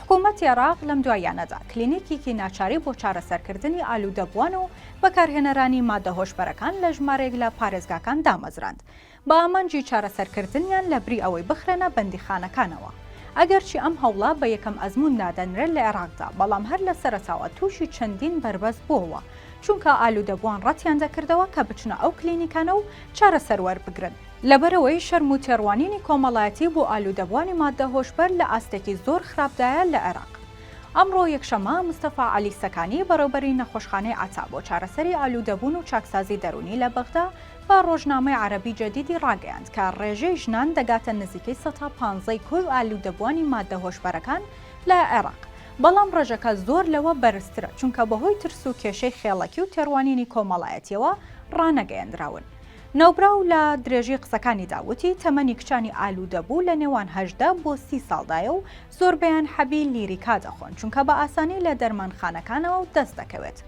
حکوومەتی عێراق لەم دواییانەدا کلینیکیکی ناچاری بۆ چارەسەرکردنی ئالوودەبووان و بەکارهێنەرانی ماددە هۆشبەرەکان لە ژمارێک لە پارێزگاکان دامەزراند بە ئامانجی چارەسەرکردنیان لە بری ئەوەی بخرێنە بەندیخانەکانەوە. ئەگەرچی ئەم هەوڵە بە یەکەم ئەزموون نادەنرێت لە عێراقدا، بەڵام هەر لە سەرەتاوە تووشی چەندین بەربەست بووەوە، چونکە ئالوودەبووان ڕەتیان دەکردەوە کە بچنە ئەو کلینیکانە و چارەسەر وەربگرن. لەبەرئەوەی شەرم و تێڕوانینی کۆمەڵایەتی بۆ ئالوودەبووانی ماددە هۆشبەر لە ئاستێکی زۆر خراپدایە لە عێراق. ئەمڕۆ یەکشەممە، مستەفا عەلی سەکانی، بەڕێوبەری نەخۆشخانەی عەتا بۆ چارەسەری ئالوودەبوون و چاکسازی دەروونی لە بەغدا بە ڕۆژنامەی عەرەبی جەدیدی ڕاگەیاند کە ڕێژەی ژنان دەگاتە نزیکەی سەتا پانزە ی کۆی ئالوودەبووانی ماددە هۆشبەرەکان لە عێراق، بەڵام ڕێژەکە زۆر لەوە بەرزترە چونکە بەهۆی ترس و کێشەی خێڵەکی و تێڕوانینی کۆمەڵایەتییەوە ڕانەگەیەندراون. ناوبراو لە درێژەی قسەکانیدا وتی، تەمەنی کچانی ئالوودەبوو لە نێوان هەژدە بۆ سی ساڵدایە و زۆربەیان حەبی لیریکا دەخۆن، چونکە بە ئاسانی لە دەرمانخانەکانەوە دەست دەکەوێت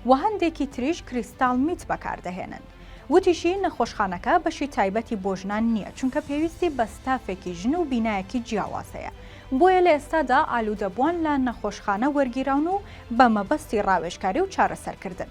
و هەندێکی تریش کریستاڵ میت بەکاردەهێنن. وتیشی، نەخۆشخانەکە بەشی تایبەتی بۆ ژنان نییە، چونکە پێویستی بە ستافێکی ژن و بینایەکی جیاواز هەیە، بۆیە لە ئێستادا ئالوودەبووان لە نەخۆشخانە وەرگیراون و بە مەبەستی ڕاوێژکاری و چارەسەرکردن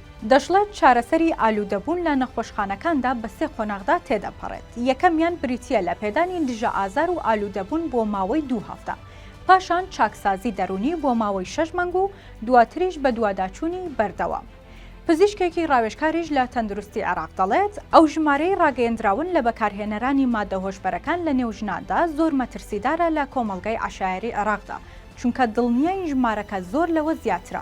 دەشڵێت، چارەسەری ئالوودەبوون لە نەخۆشخانەکاندا بە سێ قۆناغدا تێدەپەڕێت، یەکەمیان بریتییە لە پێدانی دژە ئازار و ئالوودەبوون بۆ ماوەی دوو هەفتە، پاشان چاکسازی دەروونی بۆ ماوەی شەش مانگ و دواتریش بەدواداچوونی بەردەوام. پزیشکێکی ڕاوێژکاریش لە تەندروستی عێراق دەڵێت، ئەو ژمارەی ڕاگەیەندراون لە بەکارهێنەرانی ماددە هۆشبەرەکان لەنێو ژناندا زۆر مەترسیدارە لە کۆمەڵگای عەشایەری عێراقدا، چونکە دڵنیاین ژمارەکە زۆر لەوە زیاترە.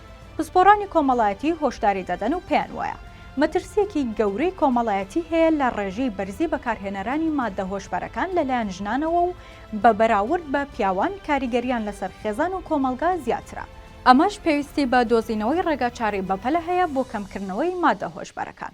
پسپۆڕانی کۆمەڵایەتی هۆشداری دەدەن و پێیان وایە، مەترسییەکی گەورەی کۆمەڵایەتی هەیە لە ڕێژەی بەرزی بەکارهێنەرانی ماددە هۆشبەرەکان لەلایەن ژنانەوە و بە بەراورد بە پیاوان کاریگەرییان لەسەر خێزان و کۆمەڵگا زیاترە، ئەمەش پێویستی بە دۆزینەوەی ڕێگاچارەی بەپەلە هەیە بۆ کەمکردنەوەی ماددە هۆشبەرەکان.